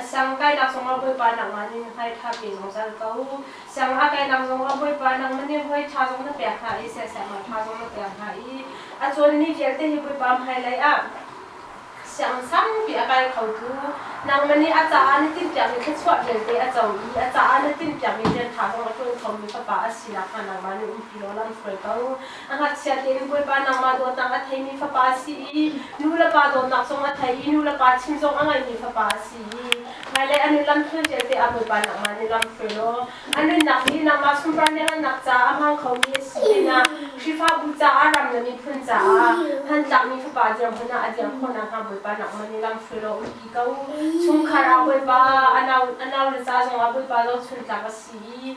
Siang kainak zongah Bawipa nangmah nih na hngaitha pin zungzal ko. Sianginn a kainak zongah Bawipa nangmah nih hawi ṭha zong na pek hna i siaksiaknak ṭha zong na pek hna i a cawlmi vialte hi Bawipa hmailei ah sianginn saupi a kai khotu nangmah nih a caah na timhpiakmi thluachuah vialte a co i a caah na timhpiakmi rian ṭha zong a ṭuan khomi fapa a si nakhnga nangmah nih umpi law lamhruai ko. A ngakchia tein Bawipa nangmah dawtnak a theimi fapa a si i nu le pa dawtnak zong a thei i nu le pa chim zong a ngaimi fapa a si i hmailei a nun lamthluan vialte ah Bawipa nangmah nih lamhruai law a nunnak hi nangmah sunparnak ngannak caah a hmang khomi a si pinah Khrihfabu caah ram le miphun caah hmantlakmi fapa dirhmun ah a dirh khawh nakhnga Bawipa nangmah nih lamhruai law um ti ko. Chungkhar ah Bawipa a nau a naule ca zongah Bawipa zohchuntlak a si i